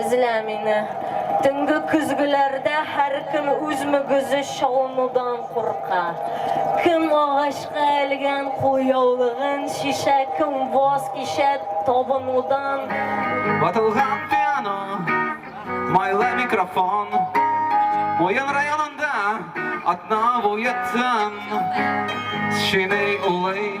Эзлә мине. Төнге көзгеләрдә һәркем үз мөгезе чалынудан курка. Кем агачка элгән кулъяулыгын чишә, кем ваз кичә табынудан. Ватылган пиано, майлы микрофон. Муен районында атна буе тын. Чиный улый.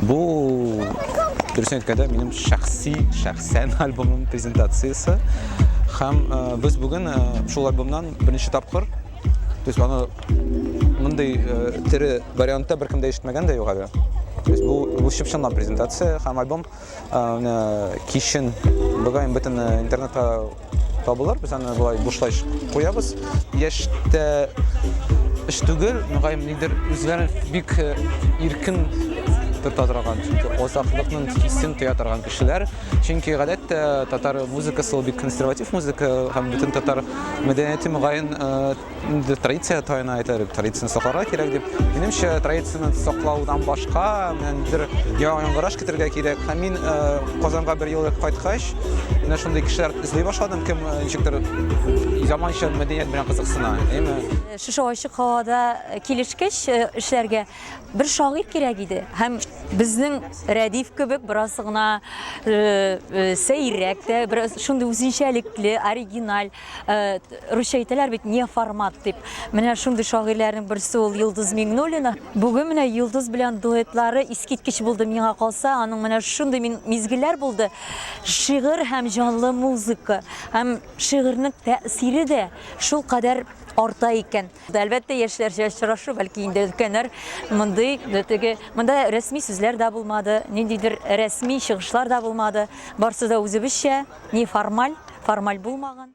Бу дөресен әйткәндә минем шәхси шәхсән альбомым презентациясе һәм э, без бүген э, шул альбомнан беренче тапкыр то есть аны мондый э, тере вариантта беркем дә ишетмәгән дә юк әле то есть бу бу чып-чынлап презентация һәм альбом аны кичен бүгән бөтен интернетта табылыр без аны болай бушлай куябыз яшьтә эш түгел мөгаен нидер үзләрен бик э, иркен тота торган чөнки озаклыкның хисен тоя торган кешеләр чөнки гадәттә татар музыкасы ул бик консерватив музыка һәм бөтен татар мәдәнияте мөгаен э, традиция тайына әйтәр традицияны сакларга кирәк дип минемчә традицияны саклаудан башка бер яңгыраш китерергә кирәк һәм мин э, казанга бер ел кайткач менә шундый кешеләр эзли башладым кем э, ничектер заманча мәдәният белән кызыксына әйме э, шушы ачык һавада килешкәч эшләргә бер шагыйрь кирәк иде һәм безнең рәдиф кебек бераз гына сәйрәк тә бераз шундый үзенчәлекле оригиналь Русча әйтәләр бит не формат дип. Менә шундый шагыйрьләрнең берсе ул Йолдыз Миңнуллина. Бүген менә Йолдыз белән дуэтлары искиткеч булды миңа калса. Аның менә шундый мизгелләр булды. Шигырь һәм җанлы музыка һәм шигырьнең тәэсире дә шул кадәр арта икән. Әлбәттә, яшьләрчә очрашу, бәлки инде өлкәннәр мондый теге монда рәсми сүзләр дә булмады, ниндидер рәсми чыгышлар да булмады. Барсы да үзебезчә. неформаль, формаль булмаган.